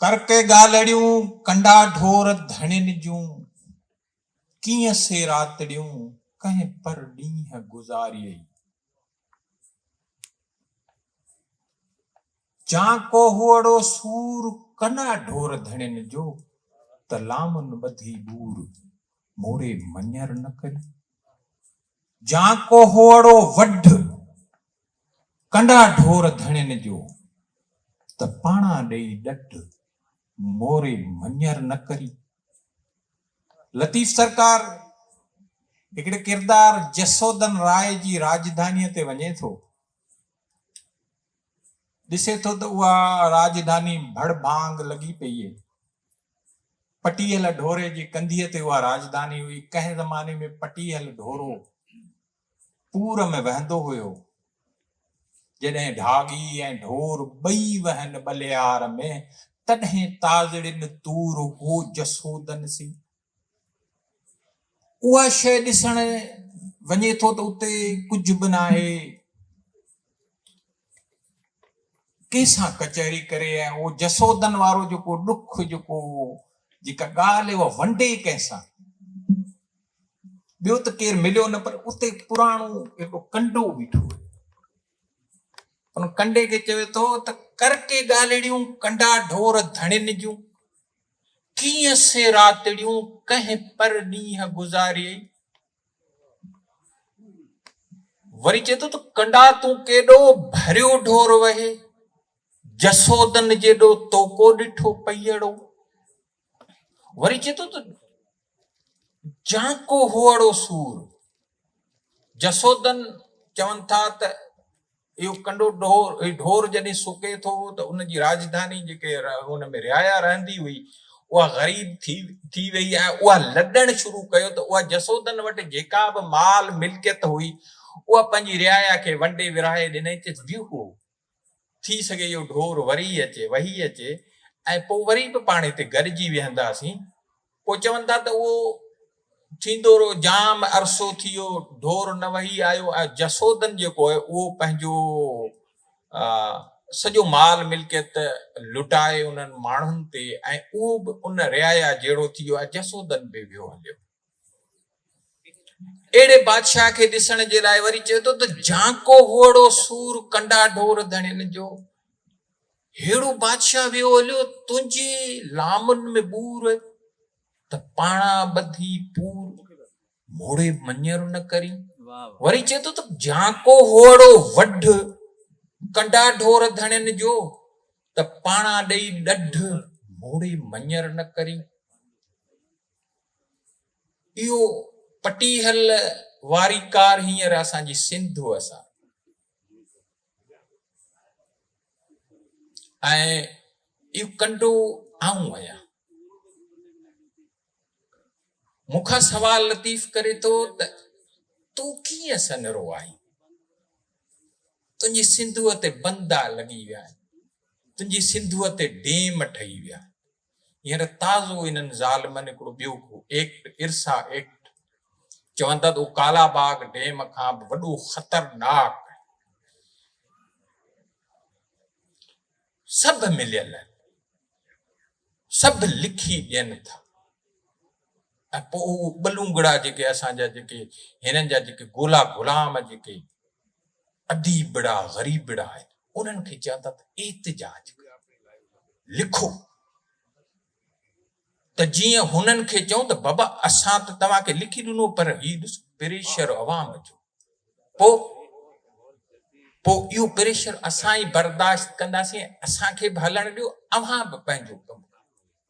ڪر ڪي ڳالهڙيون ڪنڊا ڍور ڌڻين جون، ڪيئن سي راتڙيون ڪنهن پر ڏينهن گذاريئي. جان ڪوهوئڙو سور ڪنا ڍور ڌڻين جو، ته لامن ٻڌي ٻور موڙي مڃر نه ڪري. جان ڪوهوئڙو وڍ، ڪنڊا ڍور ڌڻين جو، ته پاڻا ڏئي ڏڍ، موري مڃر نه ڪري. لطيف سرڪار هڪڙي ڪردار جسودن راء جي راڄڌانيء تي وڃي ٿو. ڏسي ٿو ته اها راڄڌاني ڀڙ ڀانگ لڳي پيئي. پٽيهل ڍوري جي ڪنڌيء تي اها راڄڌاني هئي. ڪنهن زماني ۾ پٽيهل ڍورو پور ۾ وهندو هيو. جڏهن ڍاڳي ۽ ڍور ٻئي وهن ٻلهيار ۾، تڏهن تازڙين تور هو جسودن سي. اها شيء ڏسڻ وڃي ٿو ته اتي ڪجهه به ناهي. ڪنهن سان ڪچهري ڪري ۽ اهو جسودن وارو جيڪو ڏک جيڪو جيڪا ڳالهه اها ونڊي ڪنهن سان ٻيو ته ڪير مليو نه پر اتي پراڻو هڪڙو ڪنڊو بيٺو هو ان ڪنڊي کي چوي ٿو ته ڪر ڪي ڳالهڙيون ڪنڊا ڍور ڌڻين جون ڪيئن سي راتڙيون ڪنهن پر ڏينهن گذاري وري چئي ٿو ته ڪنڊا تون ڪيڏو ڀريو ڍور وهي جسودن جيڏو توڪو ڏٺو پيئڙو وري چئي ٿو ته جانڪو هوئڙو سور جسودن چون ٿا ته اهو ڪنڊو ڍور جڏهن سڪي ٿو ته ان جي راڄڌاني جيڪي ان ۾ رعايا رهندي هئي اها غريب ٿي ٿي ويئي ۽ اها لڏڻ شروع ڪيو ته اها جسودن وٽ جيڪا به مال ملڪيت هئي اها پنهنجي رعايا کي ونڊي ورهائي ڏنئي ته ويهو ٿي سگهي اهو ڍور وري اچي وهي اچي ۽ پوء وري به پاڻ هتي گڏجي ويهنداسين پوء چون ٿا ته اهو ٿيندو رهو، جام عرصو ٿي ويو ڍور نه وهي آيو ۽ جسودن جيڪو آهي اهو پنهنجو سڄو مال ملڪيت لٽائي انهن ماڻهن تي ۽ اهو به ان رعايا جهڙو ٿي ويو ۽ جسودن به ويو هليو. اهڙي بادشاهه کي ڏسڻ جي لاء وري چئي ٿو ته جهانڪو هئڙو سور ڪنڊا ڍور ڌڻين جو هيڙو بادشاهه ويو هليو تنهنجي لامن ۾ ٻور ته پاڻا ٻڌي پور موڙي مڃر نه ڪري وري چئي ٿو ته جهانڪو هئڙو وڍ ڪنڊا ڍور ڌڻين جو ته پاڻا ڏئي ڏڍ موڙي مڃر نه ڪري اهو پٽيهل واري ڪار هينئر اسان جي سنڌوء سان ۽ اهو ڪنڊو آئون آهيان مون کان سوال لطيف ڪري ٿو ته تون ڪيئن سنرو آهين تنهنجي سنڌوء تي بندا لڳي ويا آهن تنهنجي سنڌوء تي ڊيم ٺهي ويا هينئر تازو انهن ظالمن هڪڙو ٻيو ڪو ايڪٽ، ارسا ايڪٽ، چون ٿا ته اهو ڪالا باغ ڊيم کان به وڏو خطرناڪ آهي. سڀ مليل آهن، سڀ لکي ڏين ٿا. ۽ پوء اهي ٻلونگڙا جيڪي اسان جا جيڪي هنن جا جيڪي ڳولا غلام جيڪي اديبڙا غريبڙا آهن انهن کي چون ٿا ته احتجاج ڪيو لکو ته جيئن هنن کي چون ته بابا اسان ته توهان کي لکي ڏنو پر هي ڏس پريشر عوام جو پوء پوء اهو پريشر اسان ئي برداشت ڪنداسين اسان کي به هلڻ ڏيو اوهان به پنهنجو ڪم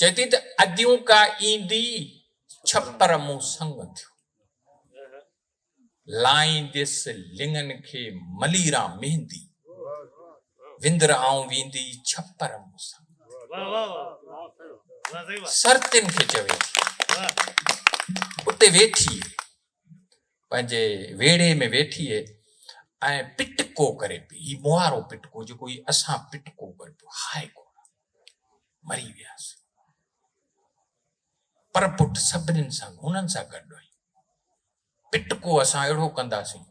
چوٿي ته اديون ڪا ايندي ڇپر مون سنگ ٿيو لائينديس لڱن کي مليرا مهندي وندر آئون ويندي ڇپر مون سنگ سرتين کي چوي اتي ويٺي پنهنجي ويڙهي ۾ ويٺي ۽ پٽڪو ڪري پي هي موهارو پٽڪو جيڪو هي اسان پٽڪو ڪري پيو هاء ڪو مري وياسين پر پٽ سڀني سان هنن سان گڏ آهي پٽڪو اسان اهڙو ڪنداسين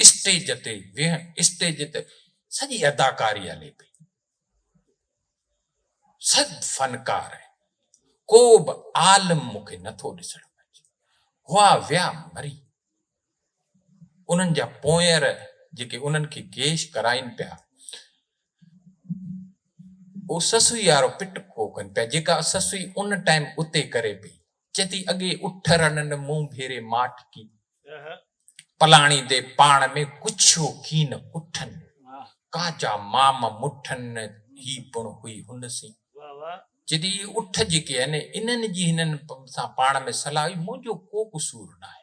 اسٽيج تي ويهن اسٽيج تي سڄي اداڪاري هلي پئي سڀ فنڪار آهن ڪو به عالم مونکي نٿو ڏسڻ پئجي هئا ويا مري انهن جا پونئير جيڪي انهن کي گيش ڪرائين پيا، او سسئي وارو پٽ ڪو ڪن پيا، جيڪا سسئي ان ٽائيم اتي ڪري پئي، چئي ٿي اڳي اٺ رنن مون ڀيري ماٺ ڪي، پلاڻي دي پاڻ ۾ ڪڇيو ڪين اٺن، ڪاجا مام مٺن هي پڻ هئي هن سين. چئي ٿي اي اٺ جيڪي آهن، انهن جي هنن سان پاڻ ۾ صلاح هئي، منهنجو ڪو قصور ناهي.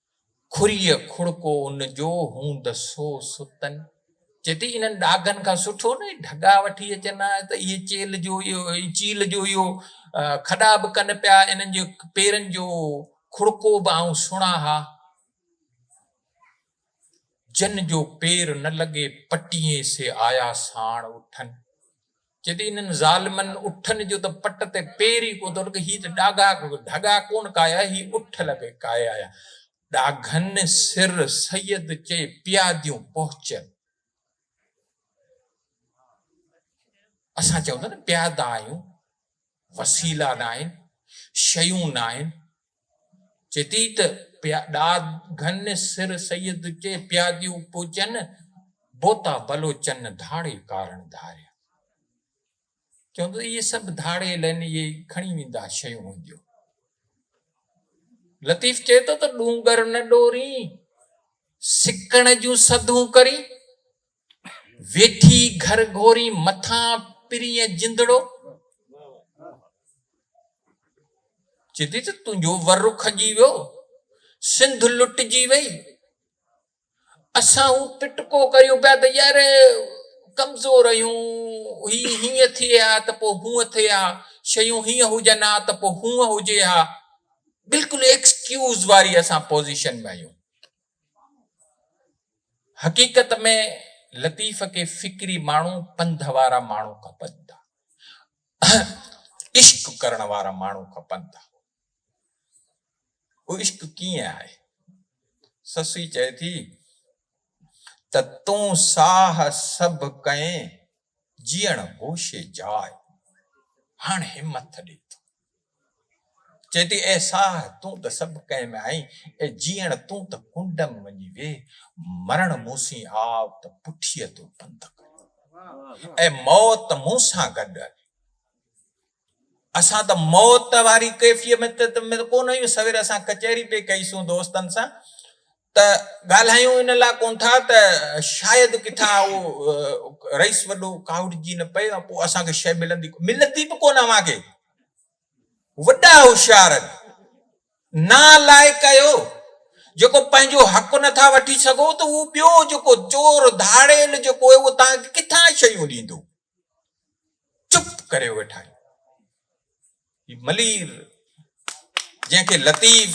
کڙيء کڙڪو ان جو هوند سو ستن. چئي ٿي انهن ڏاگهن کان سٺو نه اهي ڍڳا وٺي اچن ها ته اهي چيل جو چيل جو اهو کڏا به ڪن پيا انهن جي پيرن جو کڙڪو به آئون سڻان ها. جن جو پير نه لڳي پٽيين سي آيا ساڻ اٺن. جڏهن انهن ظالمن اٺن جو ته پٽ تي پير ئي ڪو ٿو لڳي، هي ته ڏاگا ڍڳا ڪونه ڪايا، هي اٺ لڳي ڪايا آيا. ڏاگهن سر سيد چئي پياديون پهچن. اسان چئون ٿا نه پيادا آهيون، وسيلا ناهن، شيون ناهن، جديد پيا ڏاد گهن سر سيد چي پياديون پوچن بوتا بلوچن ڌاڙي ڪارڻ ڌاريا چون ته اهي سڀ ڌاڙي لن اهي کڻي ويندا شيون هونديون لطيف چي ٿو ته ڏونگر نه ڏورين سڪڻ جون سڌون ڪرين ويٺي گهر گهوري مٿان پرينء جندڙو. چي ٿي ته تنهنجو ور کڄي ويو، سنڌ لٽجي وئي. اسان هو پٽڪو ڪريون پيا ته يار ڪمزور آهيون، هي هيئن ٿئي ها ته پوء هونئن ٿئي ها، شيون هيئن هجن ها ته پوء هونئن هجي ها. بلڪل ايڪسڪيوز واري اسان پوزيشن ۾ آهيون. حقيقت ۾ لطيف کي فڪري ماڻهو پنڌ وارا ماڻهو کپن ٿا عشق ڪرڻ وارا ماڻهو کپن ٿا اهو عشق ڪيئن آهي سسي چئي ٿي ته تون ساهه سڀ ڪئين جيئڻ هوشي جاء هاڻ همٿ ڏي ٿو چئي ٿي اي ساهه تون ته سڀ ڪنهن ۾ آهين، اي جيئڻ تون ته ڪنڊ م وڃي ويهه، مرڻ مون سين آء ته پٺيء تون پنڌ ڪريون، اي موت مون سان گڏ هلي. اسان ته موت واري ڪيفيت ۾ ته ڪونه آهيون، سوير اسان ڪچهري پئي ڪئي سون دوستن سان ته ڳالهايون ان لاء ڪون ٿا ته شايد ڪٿان اهو رئيس وڏو ڪاهوڙجي نه پئي ۽ پوء اسان کي شيء ملندي ڪونه. ملندي به ڪونه اوهان کي. وڏا هوشيار نالائق آهيو جيڪو پنهنجو حق نه ٿا وٺي سگهو ته اهو ٻيو جيڪو چور ڌاڙيل جيڪو اهو توهان کي ڪٿان شيون ڏيندو. چپ ڪري ويٺا آهيون. هي ملير جنهن کي لطيف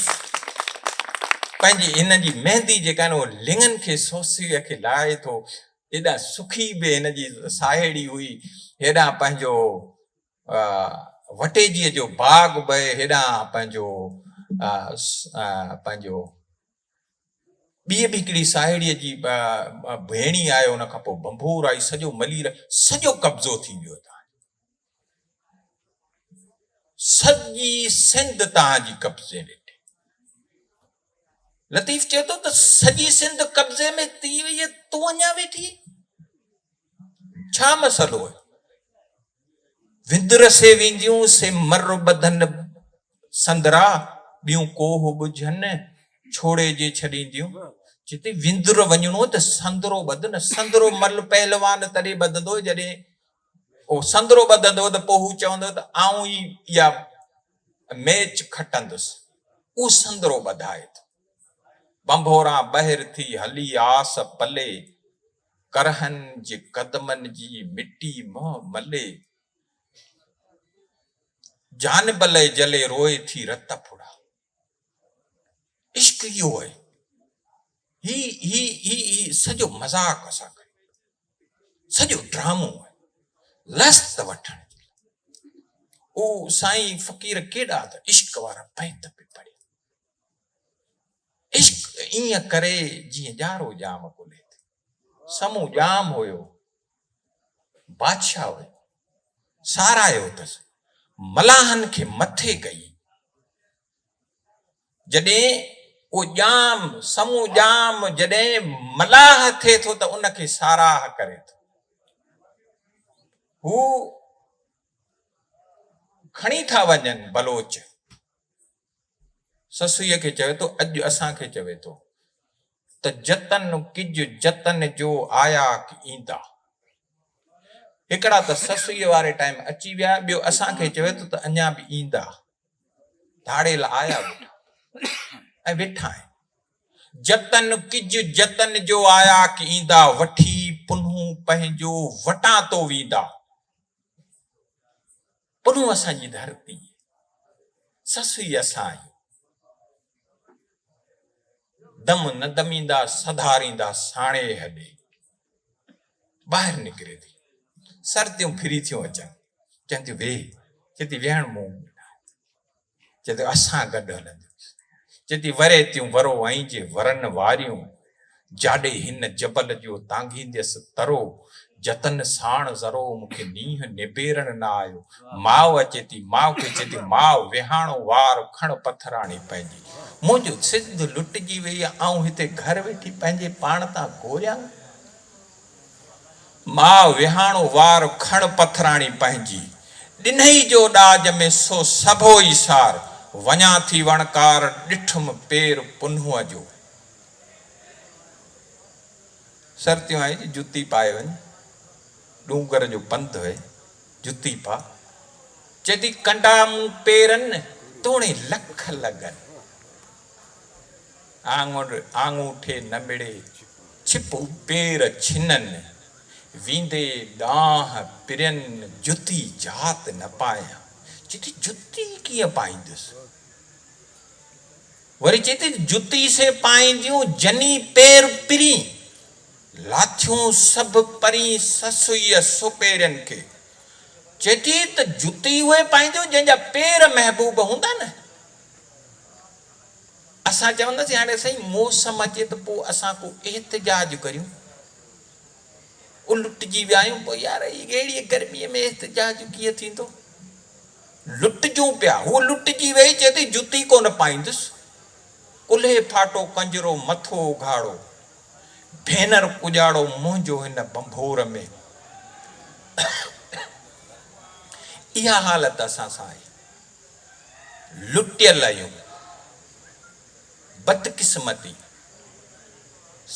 پنهنجي هن جي مهندي جيڪا آهي اهو لڱن کي سوسيء کي لاهي ٿو ايڏا سکي به هن جي ساهيڙي هئي هيڏانهن پنهنجو وٽيجيء جو باغ به هيڏانهن پنهنجو پنهنجو ٻيء به هڪڙي ساهيڙيء جي ڀيڻي آئي، ان کان پوء ڀنڀور آئي، سڄو ملير، سڄو قبضو ٿي ويو توهان جو. سڄي سنڌ توهان جي قبضي ۾ ٿي. لطيف چئي ٿو ته سڄي سنڌ قبضي ۾ ٿي وئي، تون اڃا ويٺي ڇا مسئلو هي؟ وندر سي وينديون سي مر ٻڌن سندرا ٻيون ڪوهه ٻجهن ڇوڙي جي ڇڏينديون جتي وندر وڃڻو ته سندرو ٻڌ نه سندرو مل پهلوان تڏي ٻڌندو جڏي او سندرو ٻڌندو ته پوء هو چوندو ته آئون ئي يا ميچ کٽندس او سندرو ٻڌائي ٿو بنڀوران ٻهر ٿي هلي آس پلي ڪرهن جي قدمن جي مٽي منهن ملي، جان بلئي جلي روئي ٿي رت ڦڙا. عشق اهو آهي، هي هي هي هي سڄو مذاق اسان ڪيو پيو، سڄو ڊرامو آهي، لذت وٺڻ جي لاء. او سائين فقير ڪيڏا ته عشق وارا بيت به پڙهيا. عشق ائين ڪري جيئن ڄارو ڄام ڪلهي تي سمون ڄام هيو بادشاهه هيو ساراهيو اٿس ملاحن کي مٿي ڪئي جڏهن او ڄام سمون ڄام جڏهن ملاح ٿئي ٿو ته ان کي ساراهه ڪري ٿو هو کڻي ٿا وڃن بلوچ سسئيء کي چوي ٿو، اڄ اسان کي چوي ٿو ته جتن ڪج جتن جو آياڪ ايندا. هڪڙا ته سسئيء واري ٽائيم اچي ويا، ٻيو اسان کي چوي ٿو ته اڃا به ايندا. ڌاڙيل آيا ويٺا ۽ ويٺا آهن. جتن ڪج جتن جو آياڪ ايندا، وٺي پنهون پنهنجو وٽان تو ويندا. پنهون اسان جي ڌرتي، سسئي اسان آهي. دم نه دميندا سڌاريندا ساڻي هڏي. ٻاهر نڪري ٿي. سرتيون ڦري ٿيون اچن. چون ٿيون ويهه. چي ٿي ويهڻ مون ۾ ناهي. چي ته اسان گڏ هلنديون. چي ٿي وريتيون ورو ۽ جي ورن واريون، جاڏي هن جبل جو تانگهينديس ترو، جتن ساڻ ذرو مون کي نينهن نبيرڻ نه آيو، ماء اچي ٿي ماء کي چي ٿي ماء ويهاڻو وار کڻ پٿراڻي پنهنجي، منهنجو سنڌ لٽجي وئي آئون هتي گهر ويٺي پنهنجي پاڻ تان گوريان. ماء وهاڻو وار کڻ پٿراڻي پنهنجي، ڏنهي جو ڏاج ۾ سو سڀو ئي سار، وڃان ٿي وڻڪار ڏٺم پير پنهونء جو. سرتيون آهي جي جتي پائي وڃ، ڏونگر جو پنڌ هي جتي پا، چئي ٿي ڪنڊا مون پيرن توڻي لک لڳن. آڱر آڱوٺي نه مڙي، ڇپ پير ڇنن، ويندي ڏانهن پرين جتي جات نه پايان. چئي ٿي جتي ڪيئن پائيندس؟ وري چئي ٿي جتي سي پائينديون جني پير پرين، لاٿيون سڀ پرين سسئيء سپيرين کي. چئي ٿي ته جتي اهي پائينديون جنهن جا پير محبوب هوندا نه. اسان چونداسين هاڻي سائين موسم اچي ته پوء اسان ڪو احتجاج ڪريون. الٽجي ويا آهيون پوء يار اهڙيء گرميء ۾ احتجاج ڪيئن ٿيندو. لٽجون پيا. هوء لٽجي ويئي چئي ٿي جتي ڪونه پائيندس. ڪلهي ڦاٽو ڪنجرو مٿو اگهاڙو. ڀينر ڪڄاڙو منهنجو هن ڀنڀور ۾. اها حالت اسان سان آهي. لٽيل آهيون بدقسمتي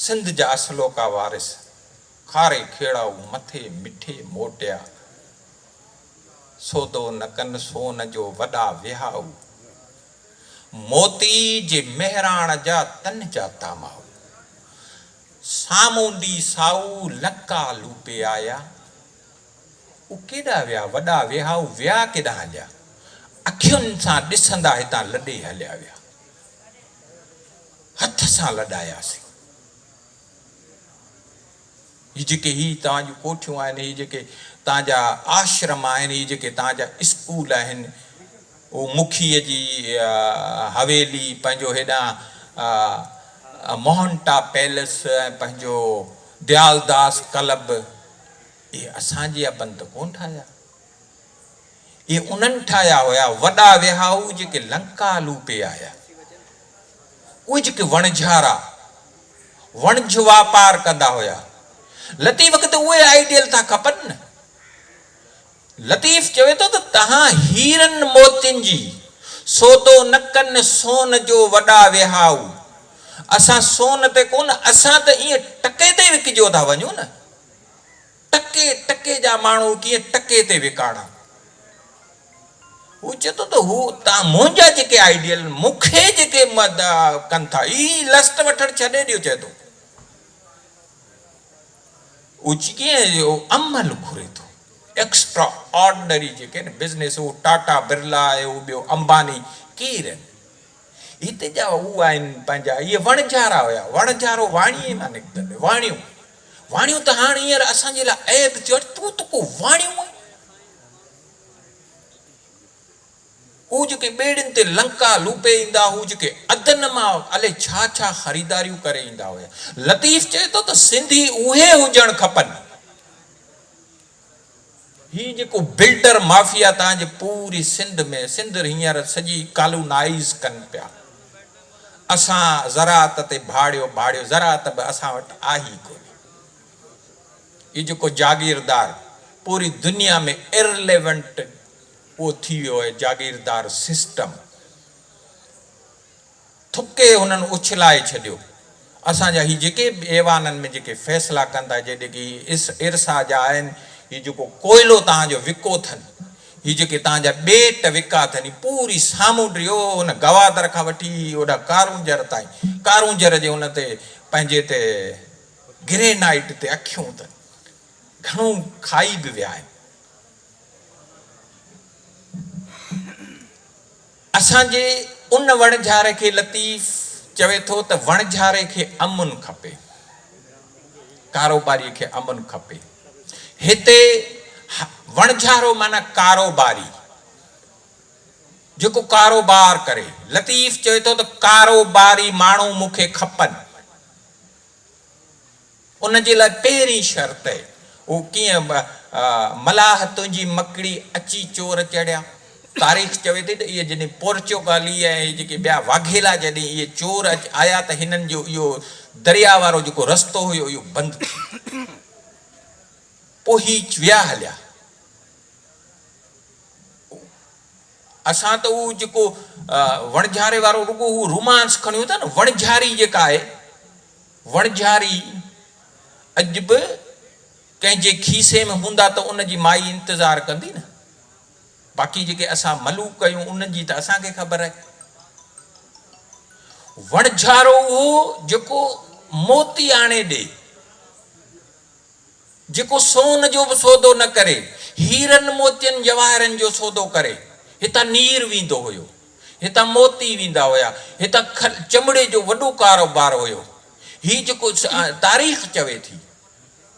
سنڌ جا اصلوڪا وارث کاري کيڙائو مٿي مٺي موٽيا سودو نه ڪن سون جو وڏا وهائو موتي جي مهراڻ جا تن جا تامائو سامونڊي سائو لڪا لوپي آيا. هو ڪيڏا ويا، وڏا ويهائو ويا ڪيڏانهن هليا، اکين سان ڏسندا هتان لڏي هليا ويا. هٿ سان لڏاياسين. هي جيڪي هي توهان جون ڪوٺيون آهن، هي جيڪي توهان جا آشرم آهن، هي جيڪي توهان جا اسڪول آهن، هو مکيء جي حويلي، پنهنجو هيڏانهن موهنٽا پيلس ۽ پنهنجو ديالداس ڪلب، اهي اسان جيا بند ڪونه ٺاهيا، اهي انهن ٺاهيا هيا، وڏا وهائو جيڪي لنڪا لوٽي آيا. اهي جيڪي وڻجهارا، وڻج واپار ڪندا هيا. لطيف کي ته اهي آئيڊيل ٿا کپن نه. لطيف چوي ٿو ته توهان هيرن موتين جي سودو نه ڪن سون جو وڏا وهائو، اسان سون تي ڪونه، اسان ته ائين ٽڪي تي وڪجيو ٿا وڃون نه. ٽڪي ٽڪي جا ماڻهو ڪيئن ٽڪي تي وڪاڻا. هو چئي ٿو ته هو اتان منهنجا جيڪي آئيڊيل مون کي جيڪي ڪن ٿا اهي لسٽ وٺڻ ڇڏي ڏيو چئي ٿو هو ڪيئن اهو عمل گهري ٿو ايڪسٽرا آرڊنري جيڪي بزنيس هو ٽاٽا برلا اهو ٻيو امباني ڪير آهن. هتي جا هو آهن پنهنجا اهي وڻجارا هيا. وڻجارو واڻيي مان نڪتل هيو. واڻيو واڻيو ته هاڻ هينئر اسان جي لاء عيب ٿيو آهي. تون ته ڪو واڻيو آهين. هو جيڪي ٻيڙين تي لنڪا لوپي ايندا هو جيڪي عدن مان الئي ڇا ڇا خريداريون ڪري ايندا هيا. لطيف چئي ٿو ته سنڌي اهي هجڻ کپن. هي جيڪو بلڊر مافيا تان جي پوري سنڌ ۾ سنڌ هينئر سڄي ڪالونائيز ڪن پيا اسان زراعت تي ڀاڙيو ڀاڙيو زراعت به اسان وٽ آهي ئي ڪونهي هي جيڪو جاگيردار پوري دنيا ۾ ارليونٽ اهو ٿي ويو آهي جاگيردار سسٽم. ٿڪي هنن اڇلائي ڇڏيو. اسان جا هي جيڪي به ايوانن ۾ جيڪي فيصلا ڪن ٿا، جي جيڪي هي ارسا جا آهن، هي جيڪو ڪوئلو توهان جو وڪو اٿن، هي جيڪي توهان جا ٻيٽ وڪا اٿن، هي پوري سامونڊ اهو هن گوادر کان وٺي اوڏانهن ڪارونجهر تائين، ڪارونجهر جي ان تي پنهنجي تي گرينائيٽ تي اکيون ته گهڻو کائي به ويا آهن. اسان جي ان وڻجھاري کي لطيف چوي ٿو ته وڻجھاري کي امن کپي، ڪاروباري کي امن کپي. هتي وڻجھارو معنيٰ ڪاروباري، جيڪو ڪاروبار ڪري. لطيف چوي ٿو ته ڪاروباري ماڻهو مون کي کپن. ان جي لاء پهرين شرط اهي هو ڪيئن به ملاح تنهنجي مڪڙي اچي چور چڙهيا. تاريخ چوي ٿي ته اهي جڏهن پورچوگالي ۽ اهي جيڪي ٻيا واگهيلا جڏهن اهي چور اچي آيا ته هنن جو اهو درياء وارو جيڪو رستو هيو اهو بند ٿي ويو پوء هي ويا هليا اسان ته اهو جيڪو وڻجهاري وارو رڳو هو رومانس کڻيون ٿا نه وڻجهاري جيڪا آهي. وڻجهاري اڄ به ڪنهن جي کيسي ۾ هوندا ته ان جي مائي انتظار ڪندي نه. باقي جيڪي اسان ملوڪ ڪيون انهن جي ته اسان کي خبر آهي. وڻجهارو اهو جيڪو موتي آڻي ڏي. جيڪو سون جو به سودو نه ڪري، هيرن موتين جواهرن جو سودو ڪري. هتان نير ويندو هيو. هتان موتي ويندا هيا. هتان کل، چمڙي جو وڏو ڪاروبار هيو. هي جيڪو تاريخ چوي ٿي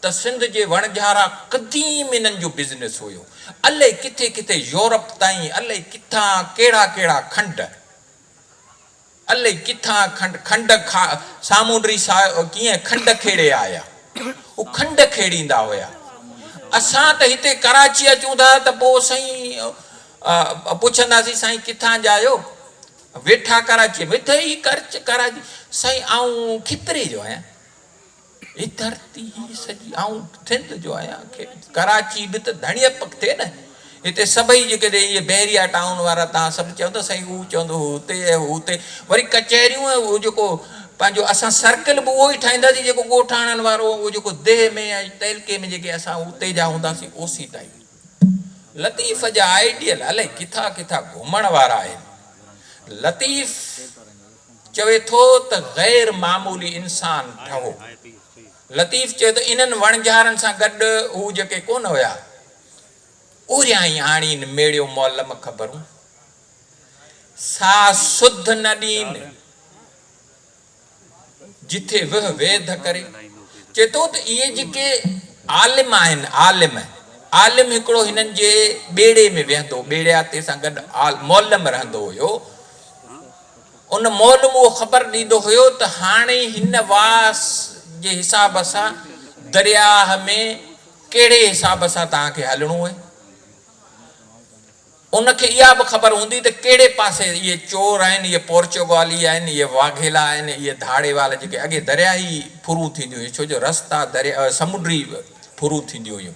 ته سنڌ جي وڻجهارا قديم انهن جو بزنس هيو. الئي ڪٿي ڪٿي يورپ تائين الئي ڪٿان ڪهڙا ڪهڙا کنڊ. الئي ڪٿان کنڊ کنڊ کان سامونڊي ساهه ڪيئن کنڊ کيڙي آيا. هو کنڊ کيڙيندا هيا. اسان ته هتي ڪراچي اچون ٿا ته پوء سائين پڇنداسين سائين ڪٿان جا آهيو؟ ويٺا ڪراچيء ۾، اٿئي ڪراچي، سائين آئون کتري جو آهيان. هي ڌرتي هي سڄي آئون سنڌ جو آهيان ڪراچي به ته ڌڻيء پکتي نه هتي سڀئي جيڪڏهن اهي بحريا ٽائون وارا توهان سڀ چوندو سائين هو چوندو هو هتي ۽ هو هتي وري ڪچهريون ۽ اهو جيڪو پنهنجو اسان سرڪل به اهو ئي ٺاهينداسين جيڪو ڳوٺاڻن وارو اهو جيڪو ديهه ۾ ۽ تعلقي ۾ جيڪي اسان اتي جا هونداسين اوسيتا ئي لطيف جا آئيڊيل الائي ڪٿا ڪٿا گهمڻ وارا آهن لطيف چوي ٿو ته غير معمولي انسان ٺهو. لطيف چيو ته انهن وڻجارن سان گڏ هو جيڪي ڪونه هيا، اوريائين آڻين ميڙيو معلم خبرون، سا سڌ نه ڏين، جٿي وهه ويڌ ڪري. چئي ٿو ته اهي جيڪي عالم آهن، عالم، عالم هڪڙو هنن جي ٻيڙي ۾ ويهندو، ٻيڙياتي سان گڏ معلم رهندو هيو، ان مئل مون خبر ڏيندو هيو ته هاڻي هن واس جي حساب سان درياهه ۾ ڪهڙي حساب سان توهان کي هلڻو اهي. ان کي اها به خبر هوندي ته ڪهڙي پاسي اهي چور آهن، اهي پورچوگالي آهن، اهي واگهيلا آهن، اهي ڌاڙي وال جيڪي اڳي درياهي ڦرون ٿينديون هيون ڇو جو رستا درياهه سمنڊي ڦرون ٿينديون هيون.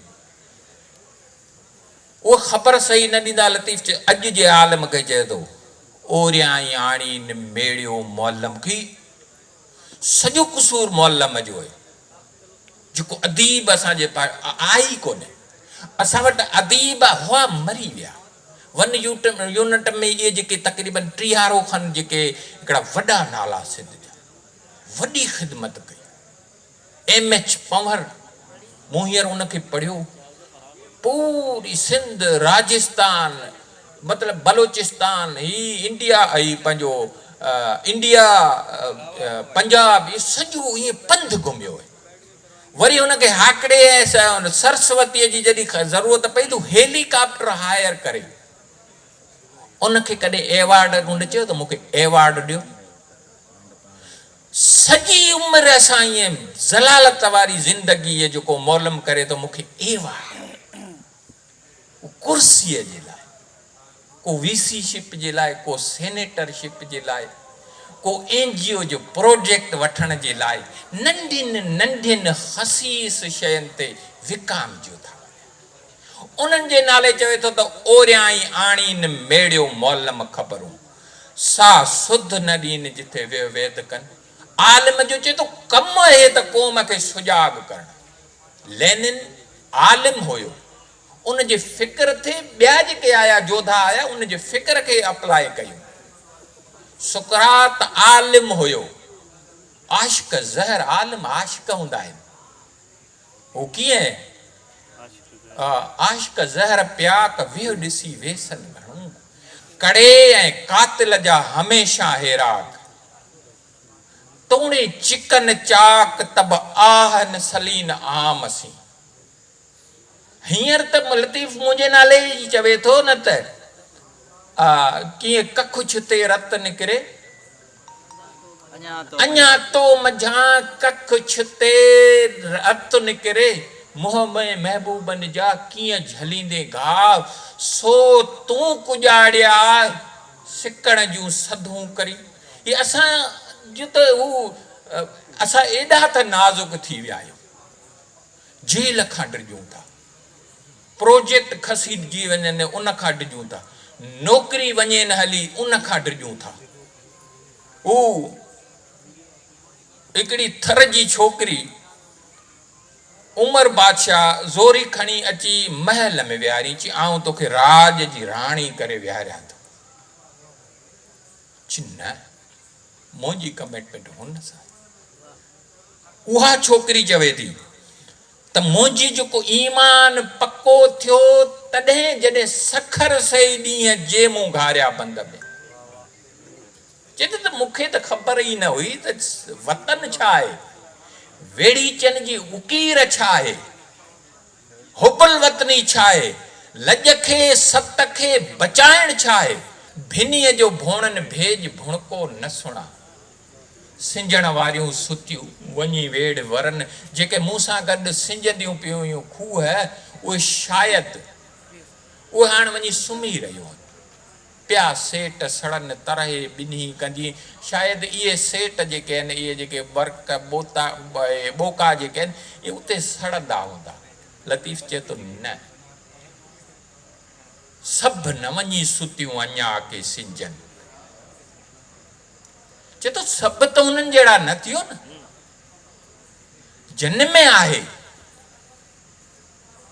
اهو خبر صحيح نه ڏيندا لطيف چي اڄ جي عالم کي چئي ٿو اوريائين آڻي نميڙيو معلم کي سڄو قصور معلم جو آهي جيڪو اديب اسان جي پاڙي آهي ئي ڪونه اسان وٽ اديب هئا مري ويا ون يونٽ ۾ اهي جيڪي تقريبن ٽيهارو کن جيڪي هڪڙا وڏا نالا سنڌ جا وڏي خدمت ڪئي ايم ايڇ پنهور، مون هينئر ان کي پڙهيو، پوري سنڌ، راجستان، مطلب بلوچستان، هي انڊيا، هي پنهنجو انڊيا، پنجاب، اهو سڄو ائين پنڌ گهميو هي. وري هن کي هاڪڙي ۽ سرسوتيء جي جڏهن ضرورت پئي ته هيلي ڪاپٽر هائير ڪري ان کي ڪڏهن ايوارڊ، هن چيو ته مون کي ايوارڊ ڏيو. سڄي عمر اسان ائين ذلالت واري زندگيء جو ڪو مولم ڪري ته مونکي ايوارڊ ڪو ڪرسيء جي لاء، ڪو وي سي شپ جي لاء، ڪو سينيٽر شپ جي لاء، ڪو اين جي او جو پروجيڪٽ وٺڻ جي لاء ننڍين ننڍين خسيس شين تي وڪامجيو ٿا وڃن. انهن جي نالي چوي ٿو ته اوريائين آڻين ميڙيو مولم خبرون. سا سڌ نه ڏين جتي ويهه ويد ڪن. عالم جو چئي ٿو ڪم اهي ته قوم کي سجاڳ ڪرڻ. لينن عالم هيو. ان جي فڪر تي ٻيا جيڪي آيا جوڌا آيا ان جي فڪر کي اپلائي ڪيون. سقراط عالم هيو. عاشق زهر عالم عاشق هوندا آهن. هو ڪيئن آ عاشق زهر پياڪ ويهه ڏسي ويسن گهڻو ڪڙي ۽ قاتل جا هميشان هيراڪ توڻي چڪن چاڪ تب آهن سلين عام سين هينئر ته لطيف منهنجي نالي جي چوي ٿو نه ته آ ڪيئن ڪکڇ تي رت نڪري. اڃا تو منجهان ڪک ڇتي رت نڪري، منهن ۾ محبوبن جا ڪيئن جهليندين گهاء، سو تون ڪڄاڙيا سڪڻ جون سڌون ڪري، هي اسان جو ته هو اسان ايڏا ته نازڪ ٿي ويا آهيون، جيل کان ڊڄون ٿا. پروجيڪٽ کسيڏجي وڃن ان کان ڊڄون ٿا، نوڪري وڃين هلي ان کان ڊڄون ٿا. هو هڪڙي ٿر جي ڇوڪري عمر بادشاهه زوري کڻي اچي محل ۾ ويهاريائين، چي آئون توکي راڄ جي راڻي ڪري ويهاريان ٿو. چي نه منهنجي ڪميٽمينٽ هن سان آهي. اها ڇوڪري چوي ٿي. ته منهنجي جيڪو ايمان پڪو ٿيو تڏهن جڏهن سکر سهي ڏينهن جي مون گهاريا بند ۾، چيٿي ته مون کي ته خبر ئي نه هئي ته وطن ڇا آهي، ويڙهيچن جي اڪير ڇا آهي، حب الوطني ڇا آهي، لڄ کي ست کي بچائڻ ڇا آهي، ڀنيء جو ڀوڻن ڀيڄ ڀڻڪو نه سڻان. سنجهڻ واريون ستيون وڃي ويڙهه ورن، جيڪي مون سان گڏ سنجهنديون پيون هيون کوهه، اهي شايد اهي هاڻ وڃي سمهي رهيون هن پيا سيٽ سڙن ترهي ٻنهي ڪندي، شايد اهي سيٽ جيڪي هن اهي جيڪي ورق ٻوتا ٻوڪا جيڪي هن اهي اتي سڙندا هوندا. لطيف چئي ٿو نه سڀ نه وڃي ستيون اڃا ڪي سنجهن. چئي ٿو سڀ ته انهن جهڙا نه ٿيو نه جن ۾ آهي.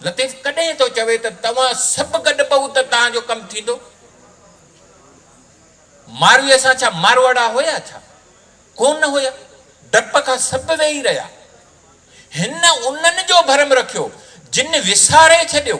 لطيف ڪڏهن ٿو چوي ته توهان سڀ گڏ پئو ته توهان جو ڪم ٿيندو؟ مارويء سان ڇا ماروئڙا هيا ڇا؟ ڪو نه هيا. ڊپ کان سڀ ويهي رهيا. هن انهن جو ڀرم رکيو جن وساري ڇڏيو.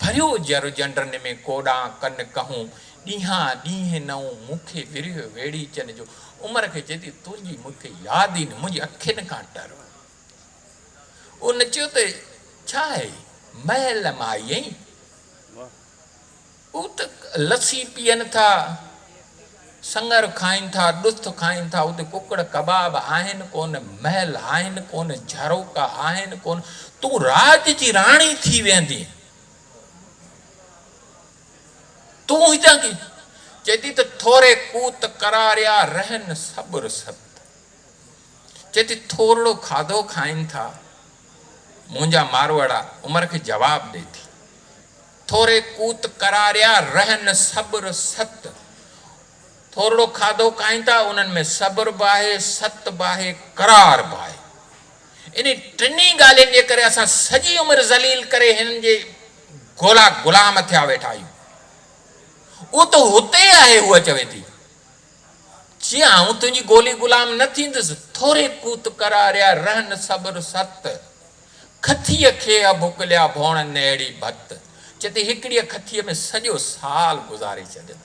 ڀريو جر جنڊرن ۾ ڪوڏان ڪن ڪهون ڏينهان ڏينهن نئون مون کي ورهيو ويڙهي چن جو عمر کي چئي ٿي تنهنجي مون کي ياد ئي نه منهنجي اکين کان ٽر او نچيو ته ڇا هي محل مان آئي اين. اوت لسي پيئن ٿا، سڱر کائين ٿا، ڏٿ کائين ٿا، اوت ڪڪڙ ڪباب آهن ڪونه، محل آهن ڪونه، جهروڪا آهن ڪونه، تون راڄ جي راڻي ٿي ويندين. تون هتان ڪيئن؟ چئي ٿي ته ٿوري ڪوت ڪراريا رهن صبر سبت. چئي ٿي ٿورڙو کاڌو کائين ٿا، منهنجا ماروئڙا عمر کي جواب ڏي ٿي. ٿوري ڪوت ڪراريا رهن صبر ست. ٿورڙو کاڌو کائين ٿا انهن ۾ صبر به آهي، ست به آهي، قرار به آهي. انهن ٽنهي ڳالهين جي ڪري اسان سڄي عمر ذليل ڪري هنن جي گولا غلام ٿيا ويٺا آهيون. اهو ته هتي آهي هوء چوي ٿي. جي آئون تنهنجي گولي غلام نه ٿيندس، ٿوري ڪوت ڪراريا رهن صبر ست. کٿيء کي اڀڪليا ڀوڻن ۾ اهڙي ڀت، جتي هڪڙيء کٿيء ۾ سڄو سال گذاري ڇڏين.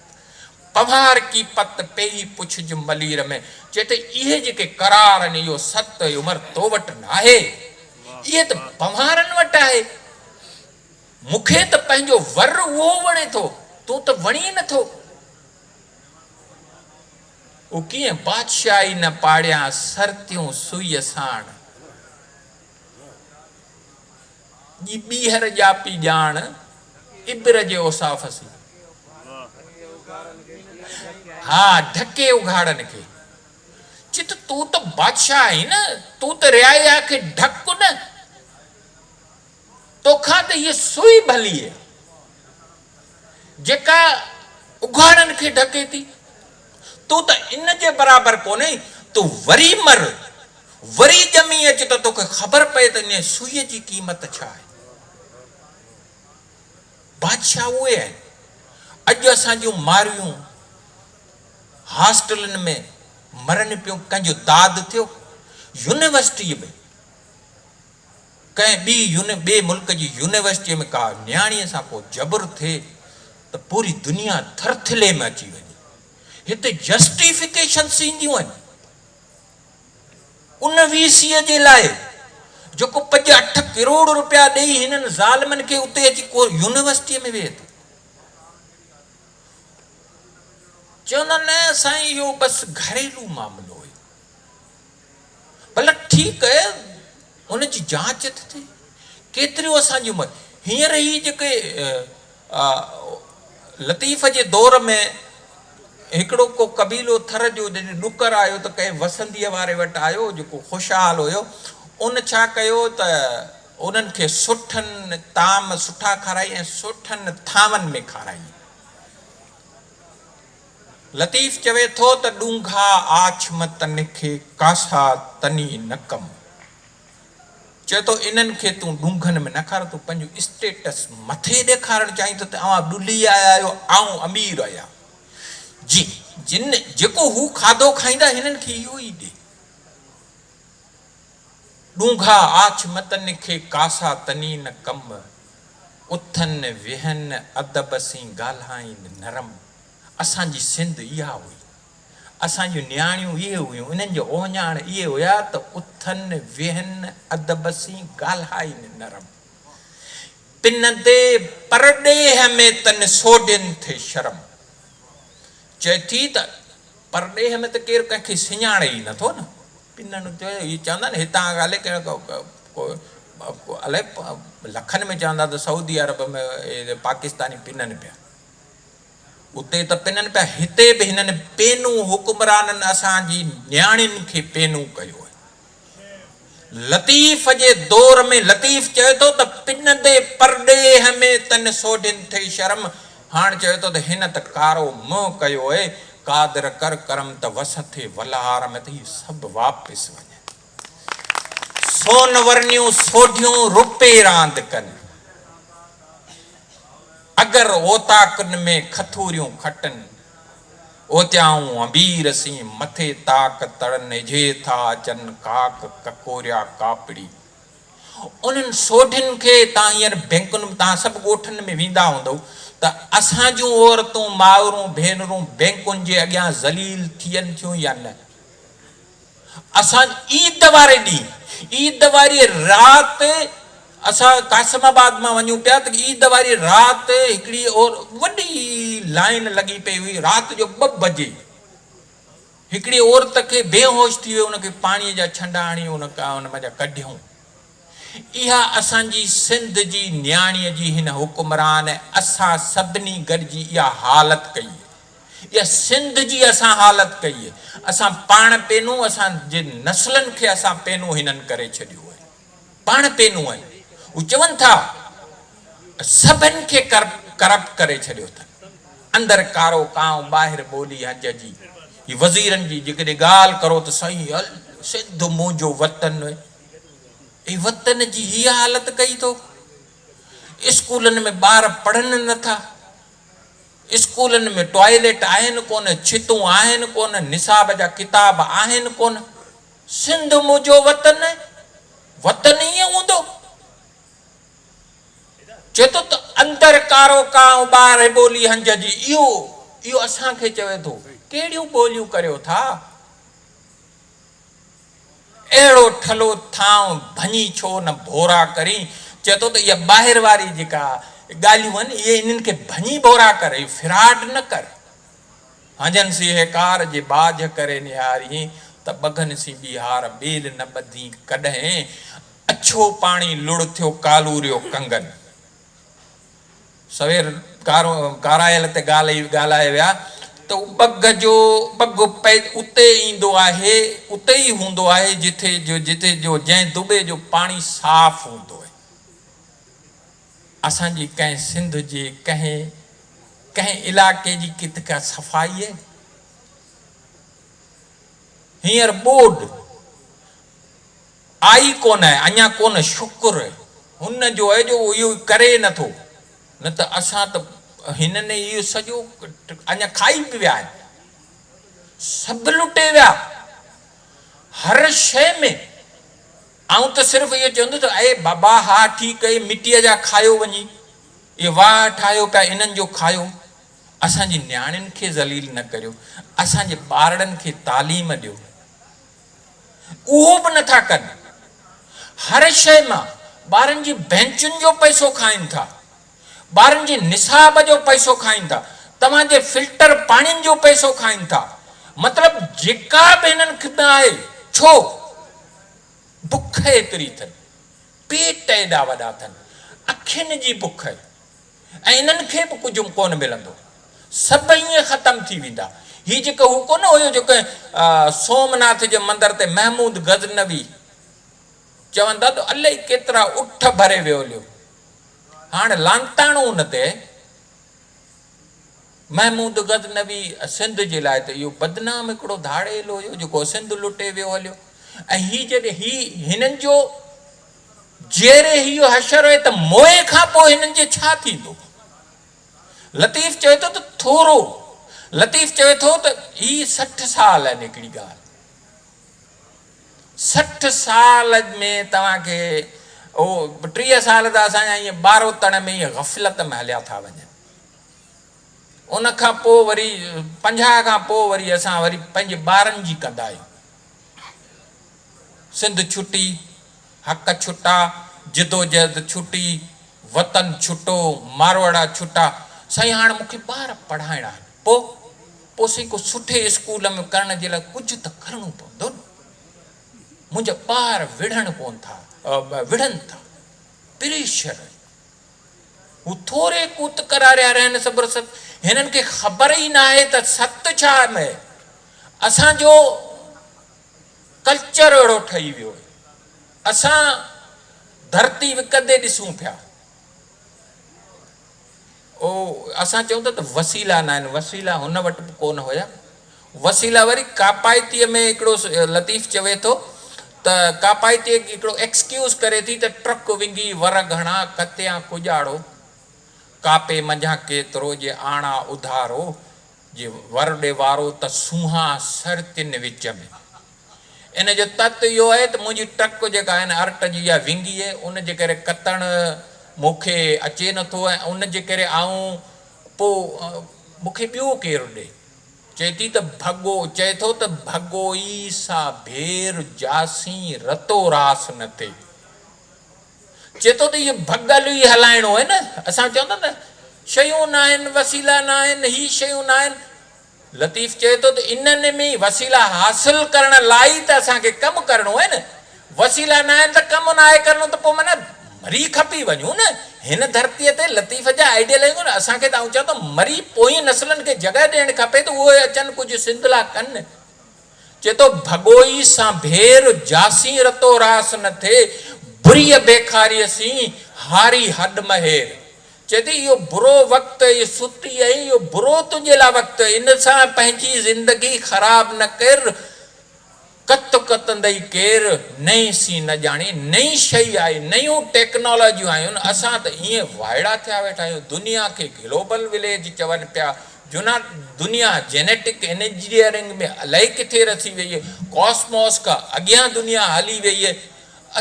پنوهار ڪي پت پيئي پڇج ملير ۾، جتي اهي جيڪي قرار آهن، اهو ست عمر تو وٽ ناهي؟ اهي ته پنوهارن وٽ آهي. مون کي ته پنهنجو ور اهو وڻي ٿو، تون ته وڻين نٿو. او ڪيئن بادشاهي نه پاڙيان سرتيون سوئيء ساڻ. جي ٻيهر ڄاپي ڄاڻ ابر جي اوصاف سين. ها ڍڪي اگهاڙن کي. چت تون ته بادشاهه آهين نه تون ته رعايا کي ڍڪ نه. توکان ته هيء سوئي ڀليء. جيڪا اگهاڙن کي ڍڪي ٿي. تون ته ان جي برابر ڪونهين. تون وري مر، وري ڄمي اچ ته توکي خبر پئي ته انهيء سوئيء جي قيمت ڇا آهي. بادشاهه اهي آهن. اڄ اسان جون ماريون هاسٽلن ۾ مرن پيون، ڪنهن جو داد ٿيو، يونيورسٽيء ۾. ڪنهن ٻي يوني ٻئي ملڪ جي يونيورسٽيء ۾ ڪا نياڻيء سان ڪو جبر ٿئي ته پوري دنيا ٿرٿلي ۾ اچي وڃي. هتي جسٽيفڪيشنس اينديون آهن ان وي سيء جي لاء جيڪو پڄ اٺ ڪروڙ روپيا ڏئي هنن ظالمن کي اتي اچي ڪو يونيورسٽيء ۾ ويهي ٿو. چوندا نه سائين اهو بس گهريلو معاملو هيو. بلڪ ٺيڪ ان جي جاچ ٿي ٿئي. ڪيتريون اسان جون مت هينئر هي جيڪي لطيف جي دور ۾ هڪڙو ڪو قبيلو ٿر جو جڏهن ڏڪر آيو ته ڪنهن وسنديء واري وٽ آيو جيڪو خوشحال هيو ان ڇا ڪيو ته انهن کي سٺن طعام سٺا کارائي ۽ سٺن ٿانون ۾ کارائي. لطيف چوي ٿو ته ڏونگها آڇ م تنه کي ڪاسا تني نه ڪم. چوي ٿو انهن کي تون ڏونگهن ۾ نه کار تون پنهنجو اسٽيٽس مٿي ڏيکارڻ چاهين ٿو ته اوهان ڏلهي آيا آهيو آئون امير آهيا جي جن جيڪو هو کاڌو کائيندا هنن کي اهو ئي ڏي. ڏونگها آڇ م تنه کي ڪاسا تني نه ڪم. اٿن ويهن ادب سين ڳالهائين نرم. اسان جي سنڌ اها هئي. اسان جون نياڻيون اهي هيون. انهن جا اوهڃاڻ اهي هيا ته اٿن، ويهن، ادب سين ڳالهائين نرم. پن تي پرڏيهه ۾ تن سوڍين ٿي شرم. چئي ٿي ته پرڏيهه ۾ ته ڪير ڪنهن کي سڃاڻي ئي نٿو نه. پنن چيو اهي چوندا آهن هتان کان الائي ڪهڙا ڪو الائي لکن ۾ چوندا ته سعودي عرب ۾ پاڪستاني پنن پيا. اتي ته پنن پيا هتي به هنن پينو حڪمرانن اسان جي نياڻين کي پينو ڪيو آهي لطيف جي دور ۾ لطيف چوي ٿو ته پنندي پرڏيهه ۾ تن سوڍين ٿئي شرم هاڻ چوي ٿو ته هن ته ڪارو منهن ڪيو اي قادر ڪر ڪرم ته وس ٿئي ولهار ۾ ته هي سڀ واپس وڃن. سون ورنيون سوڍيون روپي راند ڪن. اگر اوطاقن ۾ کٿوريون کٽن. اوتيائون امبير سين مٿي طاق تڙن اجهي ٿا اچن ڪاڪ ڪڪوريا ڪاپڙي. انهن سوڍين کي تان هينئر بينڪن ۾ تان سڀ ڳوٺن ۾ ويندا هوندئو ته اسان جون عورتون مائرون ڀينرون بينڪن جي اڳيان ذليل ٿين ٿيون يا نه. اسان عيد واري ڏينهن عيد واري رات اسان قاسم آباد مان وڃون پيا ته عيد واري رات هڪڙي وڏي لائين لڳي پئي هئي رات جو ٻه بجي هڪڙي عورت کي بيهوش ٿي ويو ان کي پاڻي جا ڇنڊا هڻي ان ان مان جا ڪڍيون اها اسان جي سنڌ جي نياڻيء جي هن حڪمران ۽ اسان سڀني گڏجي اها حالت ڪئي هي. اها سنڌ جي اسان حالت ڪئي هي. اسان پاڻ پينون اسان جي نسلن کي اسان پينون هنن ڪري ڇڏيو هي. پاڻ پينون ۽ هو چون ٿا ته سڀن کي ڪرپٽ ڪري ڇڏيو اٿن. اندر ڪارو ڪانء ٻاهر ٻولي هنج جي. هي وزيرن جي جيڪڏهن ڳالهه ڪرو ته سائين سنڌ منهنجو وطن. هي وطن جي هيء حالت ڪئي ٿو. اسڪولن ۾ ٻار پڙهن نه ٿا. اسڪولن ۾ ٽوائليٽ آهن ڪونه، ڇتون آهن ڪونه، نصاب جا ڪتاب آهن ڪونه. سنڌ منهنجو وطن، وطن ائين هوندو؟ چئي ٿو ته اندر ڪارو ڪانء ٻاهر ٻولي هنج جي، اهو اهو اسان کي چوي ٿو، ڪهڙيون ٻوليون ڪريو ٿا؟ اهڙو ٺلهو ٿانء ڀڃي ڇو نه ڀورا ڪرين. چئي ٿو ته اها ٻاهر واري جيڪا ڳالهيون آهن، اهي انهن کي ڀڃي ڀورا ڪر، اهو ڦراڊ نه ڪر. هنجن سيهڪار جي ٻاجهه ڪري نهارين ته ٻگهن سين ٻيهار ٻيل نه ٻڌين ڪڏهن اڇو پاڻي لڙ ٿيو ڪالوريو ڪنگن. سوير ڪارايل تي ڳالهائي ويا ته ٻگهه جو ٻگهه اتي ئي ايندو آهي، اتي ئي هوندو آهي جتي جتي جو جنهن دٻي جو پاڻي صاف هوندو آهي. اسان جي ڪنهن سنڌ جي ڪنهن ڪنهن علائقي جي ڪٿ ڪا صفائي آهي؟ هينئر ٻوڏ. آئي ڪونه، اڃا ڪونه، شڪر هن جو اهي جو اهو ڪري ئي نٿو، نه ته اسان ته هنن اهو سڄو اڃا کائي به ويا آهن، سڀ لٽي ويا، هر شيء ۾، آئون ته صرف اهو چوندس ته اي بابا ها ٺيڪ اهي مٽيء جا کايو وڃي، اهي واهه ٺاهيو پيا انهن جو کايو، اسان جي نياڻين کي ذليل نه ڪريو، اسان جي ٻارڙن کي تعليم ڏيو. اهو به نٿا ڪن. هر شيء مان ٻارن جي بئنچن جو پئسو کائين ٿا. ٻارن جي نصاب جو پئسو کائين ٿا. توهان جي فلٽر پاڻين جو پئسو کائين ٿا. مطلب جيڪا به هنن خدمت آهي ڇو؟ بک ايتري اٿن. پيٽ ايڏا وڏا اٿن. اکين جي بک. ۽ انهن کي به ڪجهه ڪونه ملندو. سڀ ائين ختم ٿي ويندا. هي جيڪو هو ڪونه هيو جو ڪنهن سومناٿ جي مندر تي محمود غزنوي چون ٿا ته الائي ڪيترا اٺ ڀري ويوليو. هاڻ لانتاڻو ان تي محمود غزنوي سنڌ جي لاء ته اهو بدنام هڪڙو ڌاڙيل هيو جيڪو سنڌ لٽي ويو هليو ۽ هي جڏهن هي هنن جو جيئري هيء حشر هئي ته موئي کان پوء هنن جي ڇا ٿيندو؟ لطيف چوي ٿو ته ٿورو لطيف چوي ٿو ته هي سٺ سال آهن هڪڙي ڳالهه سٺ سال ۾ توهان کي اهو ٽيهه سال ته اسان جا ايئن ٻاروتڻ ۾ ئي غفلت ۾ هليا ٿا وڃن ان کان پوء وري پنجاهه کان پوء وري اسان وري پنهنجي ٻارن جي ڪندا آهيون. سنڌ ڇٽي، حق ڇٽا، جدوجهد ڇٽي، وطن ڇٽو، ماروئڙا ڇٽا، سائين هاڻ مون کي ٻار پڙهائڻا آهن، پوء؟ پوء سائين ڪو سٺي اسڪول ۾ ڪرڻ جي لاء ڪجهه ته ڪرڻو پوندو نه. منهنجا ٻار وڙهڻ ڪونه ٿا، وڙهن ٿا، پريشر. هو ٿوري ڪوت ڪراريا رهن صبر ست هنن کي خبر ئي ناهي ته ست ڇا آهي. اسان جو ڪلچر اهڙو ٺهي ويو آهي. اسان ڌرتي وڪندي ڏسون پيا. او اسان چئون ٿا ته وسيلا ناهن وسيلا هن وٽ به ڪونه هيا وسيلا وري ڪاپائتيء ۾ هڪڙو لطيف چوي ٿو ته ڪاپائتيء هڪڙو ايڪسڪيوز ڪري ٿي ته ٽرڪ ونگي ور گهڻا ڪتيان ڪڄاڙو ڪاپي منجهان ڪيترو جي آڻا اڌارو جي ور ڏي وارو ته سونهان سر تن وچ ۾. ان جو تت اهو آهي ته منهنجي ٽرڪ جيڪا آهي نه ارٽ جي يا ونگي ان جي ڪري ڪتڻ مون کي اچي نٿو ۽ ان جي ڪري آئون پوء مون کي ٻيو ڪير ڏي. چئي ٿي ته ڀڳو، چئي ٿو ته ڀڳو ئي سا ڀير جاسين رتو راس نه ٿئي. چئي ٿو ته اهو ڀڳل ئي هلائڻو آهي نه. اسان چون ٿا نه شيون ناهن، وسيلا ناهن، هي شيون ناهن. لطيف چئي ٿو ته انهن ۾ ئي وسيلا حاصل ڪرڻ لاء ئي ته اسان کي ڪم ڪرڻو آهي نه. وسيلا ناهن ته ڪم ناهي ڪرڻو ته پوء معنيٰ مري کپي وڃون نه. هن ڌرتيء تي لطيف جا آئيڊيل آهن ڪونه. اسان کي ته آئون چوان ٿو مري پوئين نسلن کي جڳهه ڏيڻ کپي ته اهي اچن ڪجهه سنڌ لا ڪن. چئي ٿو ڀڳوئي سان ڀير جاسين رتو راس نه ٿئي بريء بيخاريء سين هاري هڏ مهير. چئي ٿي اهو برو وقت اي سوٽي ۽ اهو برو تنهنجي لا وقت ان سان پنهنجي زندگي خراب نه ڪر. ڪت ڪتندئي ڪير نئين سين نه ڄاڻي نئين شئي آئي نيون ٽيڪنالاجيون آيون اسان ته ائين وائڙا ٿيا ويٺا آهيون دنيا کي گلوبل وليج چون پيا جنا دنيا جينيٽڪ انجنيئرنگ ۾ الائي ڪٿي رسي ويئي ڪاسموس کان اڳيان دنيا هلي ويئي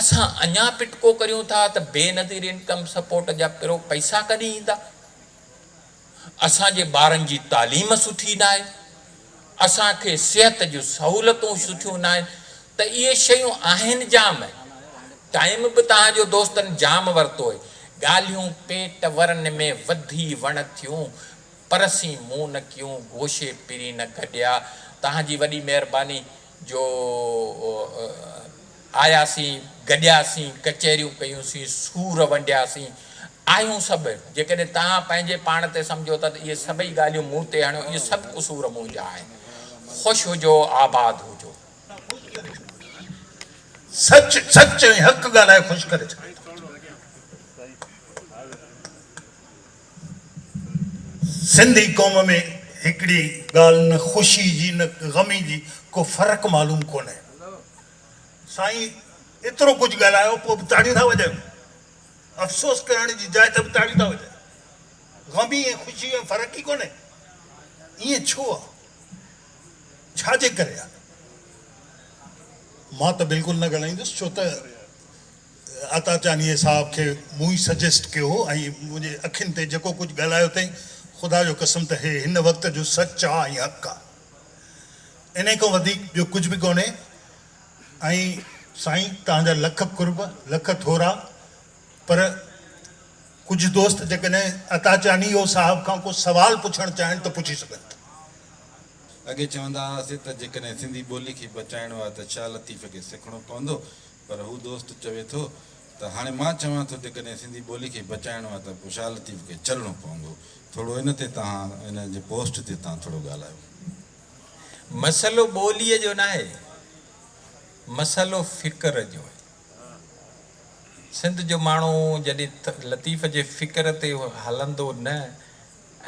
اسان اڃا پٽڪو ڪريون ٿا ته بي نظير انڪم سپورٽ جا پرو پئسا ڪڏهن ايندا. اسان جي ٻارن جي تعليم سٺي ناهي، اسان کي صحت جون سهولتون سٺيون ناهن ته اهي شيون آهن جام، ٽائيم به توهان جو دوستن جام ورتو آهي، ڳالهيون پيٽ ورن ۾ وڌي وڻ ٿيون، پر سين منهن نه ڪيون، گوشي پرين نه گڏيا، توهان جي وڏي مهرباني جو آياسين، گڏياسين، ڪچهريون ڪيون سين، سور ونڊياسين، آهيون سڀ، جيڪڏهن توهان پنهنجي پاڻ تي سمجهو ٿا ته اهي سڀئي ڳالهيون مون تي هڻيو، اهي سڀ قصور منهنجا آهن. خوش هجو، آباد هجو. نه خوش ڪري ڇڏيو ٿا. سچ، سچ ۽ حق ڳالهائي خوش ڪري ڇڏيو ٿا. سنڌي قوم ۾ هڪڙي ڳالهه نه خوشي جي نه غمي جي ڪو فرق معلوم ڪونهي. سائين ايترو ڪجهه ڳالهايو پوء به تاڙيون ٿا وڄايو. افسوس ڪرڻ جي جاء ته به تاڙيون ٿا وڄن. غمي ۽ خوشي ۾ فرق ئي ڪونهي. ائين ڇو آ؟ ڇا جي ڪري آ؟ مان ته بلڪل نه ڳالهائيندس ڇو ته عطا چانيي صاحب کي مون ئي سجيسٽ ڪيو هو ۽ منهنجي اکين تي جيڪو ڪجهه ڳالهايو اٿئي خدا جو قسم ته هي هن وقت جو سچ آ ۽ حق آ. انهي کان وڌيڪ ٻيو ڪجهه به ڪونهي. ۽ سائين توهان جا لک قرب لک ٿورا پر ڪجهه دوست جيڪڏهن عطا چانيو صاحب کان ڪو سوال پڇڻ چاهن ته پڇي سگهن ٿا. اڳي چوندا هئاسي ته جيڪڏهن سنڌي ٻولي کي بچائڻو آهي ته شاهه لطيف کي سکڻو پوندو پر هو دوست چوي ٿو ته هاڻي مان چوان ٿو جيڪڏهن سنڌي ٻولي کي بچائڻو آهي ته پوء شاهه لطيف کي چلڻو پوندو ٿورو ان تي توهان ان جي پوسٽ تي توهان ٿورو ڳالهايو. مسئلو ٻوليء جو ناهي، مسئلو فڪر جو آهي. سنڌ جو ماڻهو جڏهن لطيف جي فڪر تي هلندو نه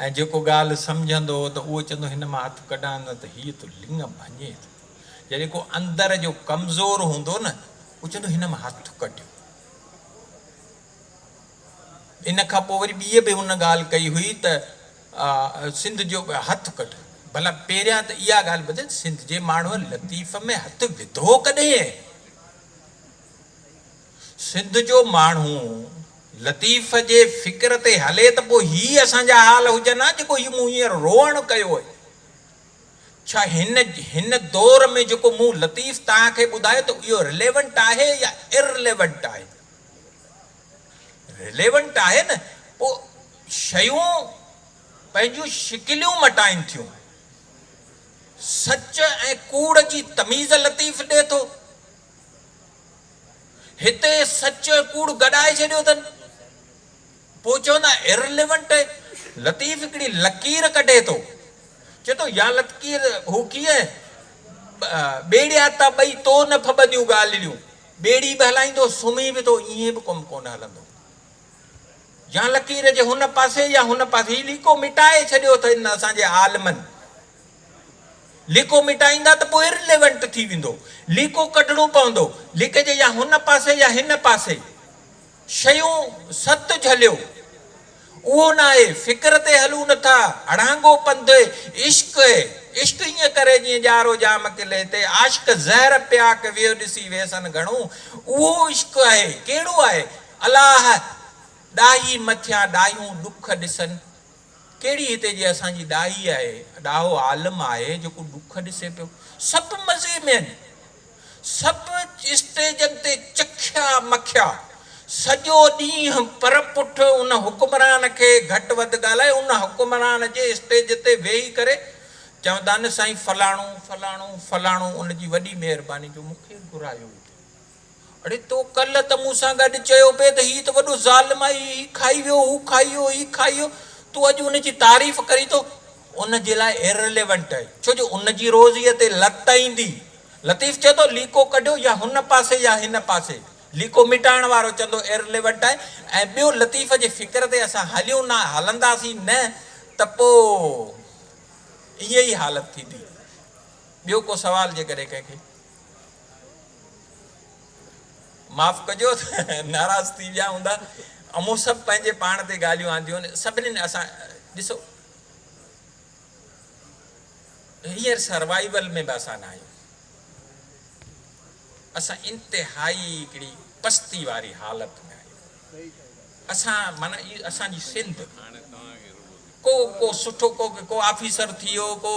۽ جيڪو ڳالهه سمجهندو ته اهو چوندو هن مان هٿ ڪڍان نه ته هيء ٿو لڱ ڀڃي ٿو. جڏهن ڪو اندر جو ڪمزور هوندو نه اهو چوندو هن مان هٿ ڪڍيو. ان کان پوء وري ٻيء به ان ڳالهه ڪئي هئي ته سنڌ جو هٿ ڪڍ ڀلا پهريان ته اها ڳالهه ٻڌ ته سنڌ جي ماڻهوء لطيف ۾ هٿ وڌو ڪڏهن؟ سنڌ جو ماڻهو لطيف جي فڪر تي هلي ته پوء هي اسان جا حال هجن ها جيڪو هي مون هينئر روئڻ ڪيو اهي ڇا هن هن دور ۾ جيڪو مون لطيف توهان کي ٻڌايو ته اهو رليونٽ آهي يا ارليونٽ آهي؟ رليونٽ آهي نه پوء شيون پنهنجون شڪليون مٽائين ٿيون. سچ ۽ ڪوڙ جي تميز لطيف ڏئي ٿو. هتي سچ ۽ ڪوڙ گڏائي ڇڏيو اٿن پوء چوندا Irrelevant. لطيف هڪڙي لڪير ڪڍي ٿو چئي ٿو يا لطڪير هو ڪيئن ٻيڙيا تا ٻئي تو نه ڦٻنديون ڳالهڙيون. ٻيڙي به هلائيندو، سمهي به ٿو، ائين به ڪم ڪونه هلندو. يا لڪير جي هن پاسي يا هن پاسي. هي ليڪو مٽائي ڇڏيو اٿئن اسان جي عالمن. ليڪو مٽائيندا ته پوء Irrelevant ٿي ويندو. ليڪو ڪڍڻو پوندو. ليڪ جي يا هن پاسي يا هن پاسي. شيون ست جهليو، اهو ناهي فڪر تي هلون نٿا، اڙانگو پنڌ عشق اي، عشق ائين ڪري جيئن ڄارو جام قلعي تي، عاشق زهر پياڪ ويهه ڏسي ويسن گهڻو، اهو عشق اهي، ڪهڙو آهي؟ الاهه ڏاهي مٿيان ڏاهيون ڏک ڏسن، ڪهڙي هتي جي اسان جي ڏاهي آهي، ڏاهو عالم آهي جيڪو ڏک ڏسي پيو، سڀ مزي ۾ آهن. سڀ اسٽيجن تي چکيا مکيا، سڄو ڏينهن پر پٺ ان حڪمران کي گهٽ وڌ ڳالهائي ان حڪمران جي اسٽيج تي ويهي ڪري چوندا نه سائين فلاڻو فلاڻو فلاڻو ان جي وڏي مهرباني جو مون کي گهرايو ئي ٿي. اڙي تو ڪلهه ته مون سان گڏ چيو پئي ته هي ته وڏو ظالم آهي هي کائي ويو هو کائي ويو هي کائي ويو تون اڄ ان جي تعريف ڪرين ٿو. ان جي لاء Irrelevant آهي ڇو جو ان جي روزيء تي لت ايندي. لطيف چئي ٿو ليڪو ڪڍيو يا هن پاسي يا هن پاسي. ليڪو مٽائڻ وارو چوندو Irrelevant آهي ۽ ٻيو لطيف جي فڪر تي اسان هليون نه هلنداسين نه ته پوء ايئن ئي حالت ٿيندي. ٻيو ڪو سوال جيڪڏهن ڪنهن کي؟ معاف ڪجو ته ناراض ٿي ويا هوندا. امون سڀ پنهنجي پاڻ تي ڳالهيون آنديون آهن. سڀنين اسان ڏسو. هينئر سروائيول ۾ به اسان نه آهيون. اسان انتهائي هڪڙي پستي واري حالت ۾ آهيون. اسان معنيٰ هي اسان جي سنڌ ڪو ڪو سٺو ڪو ڪو آفيسر ٿي ويو ڪو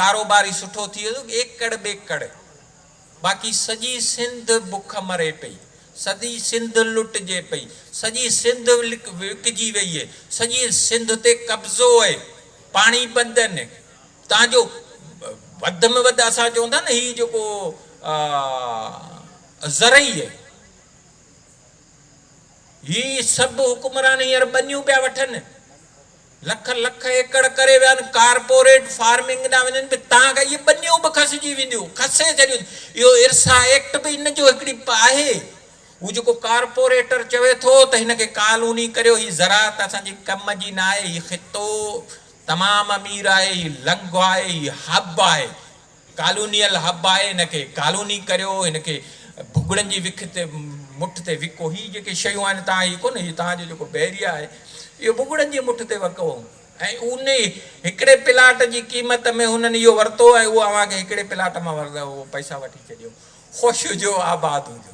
ڪاروباري سٺو ٿي ويو ايڪڙ ٻيڪڙ باقي سڄي سنڌ بک مري پئي، سڄي سنڌ لٽجي پئي، سڄي سنڌ وڪجي وئي اهي، سڄي سنڌ تي قبضو اهي، پاڻي بند اهن، تان جو وڌ ۾ وڌ اسان چئون ٿا نه هي جيڪو زرعي اهي، هي سڀ حڪمران هينئر ٻنيون پيا وٺن. لک لک ايڪڙ ڪري ويا آهن ڪارپوريٽ فارمنگ ڏانهن وڃن پيا تان ڪري اهي ٻنيون به کسجي وينديون کسي ڇڏيون اٿن اهو ارسا ايڪٽ به ان جو هڪڙي پ آهي هو جيڪو ڪارپوريٽر چوي ٿو ته هن کي ڪالوني ڪريو هي زراعت اسان جي ڪم جي نه آهي هي خطو تمام امير آهي هي لنگهه آهي هي حب آهي ڪالونيل حب آهي هن کي ڪالوني ڪريو هن کي ڀڳڙن جي وک تي مٺ تي وڪو هي جيڪي شيون آهن تان هي ڪونه هي تان جو جيڪو بحريه آهي اهو ڀڳڙن جي مٺ تي وڪو ۽ انهي هڪڙي پلاٽ جي قيمت ۾ هنن اهو ورتو ۽ اهو اوهان کي هڪڙي پلاٽ مان ورده هو پئسا وٺي ڇڏيو خوش هجو آباد هجو.